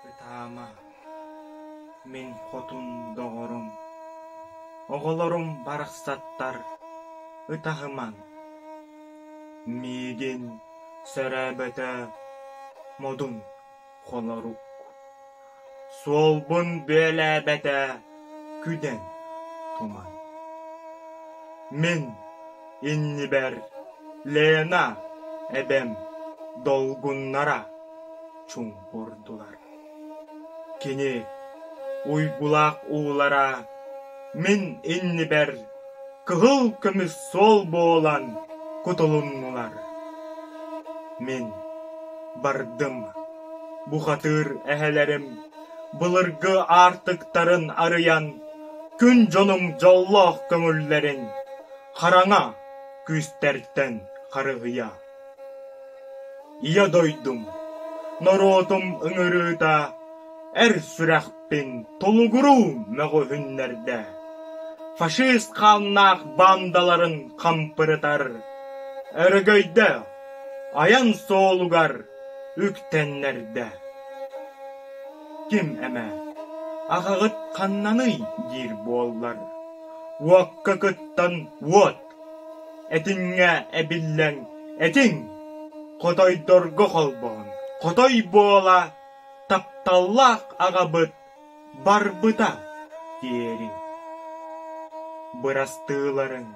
Ытаама, мин хотун доҕорум, оҕолорум барахсаттар ытаһымаҥ. Миигин сөрөөбөтө модун. Хонорук суолбун бүөлээбэтэ күнэн туман Мин иннибэр Лена эбэм долгуннара чуҥкурдулар Кини уйгулаах уулара мин иннибэр Кыһыл көмүс суол буолан кутулуннулар. Мин бардым бухатыыр эһэлэрим былыргы аартыктарын арыйан күн дьонуҥ дьоллоох көҥүллэрин хараҥа күүстэртэн харыһыйа. Ийэ дойдум, норуотум ыҥырыыта эр сүрэх Мин Тулугуруу мөҕүһүннэрдэ фашист хааннаах баандаларын хампырытар өрөгөйдөөх айан суолугар үктэннэрдэ ким эмэ аҕаҕыт ханнаный диир буоллар уокка кыттан уот этиҥҥэ эбиллэн этиҥ хотойдорго холбоон хотой буола тапталлаах аҕабыт барбыта диэриҥ бырастыыларыҥ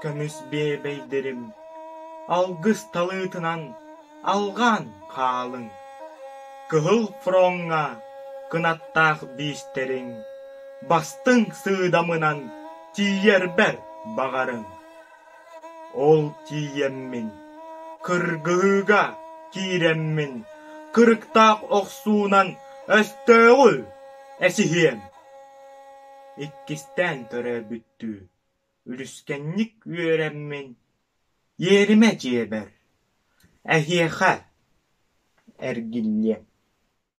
көмүс биэбэйдэрим алгыс талыытынан алҕаан хаалыҥ кыһыл фроҥҥа кынаттаах биистэриҥ бастыҥ сыыдамынан тиийэрбэр баҕарыҥ Ол тиийэммин, кыргыһыыга киирэммин, кырыктаах охсуунан өстөөҕү эсиһиэм. Иккистээн төрөөбүттүү үлүскэнник үөрэммин, иэримэ дьиэбэр, эһиэхэ эргиллиэм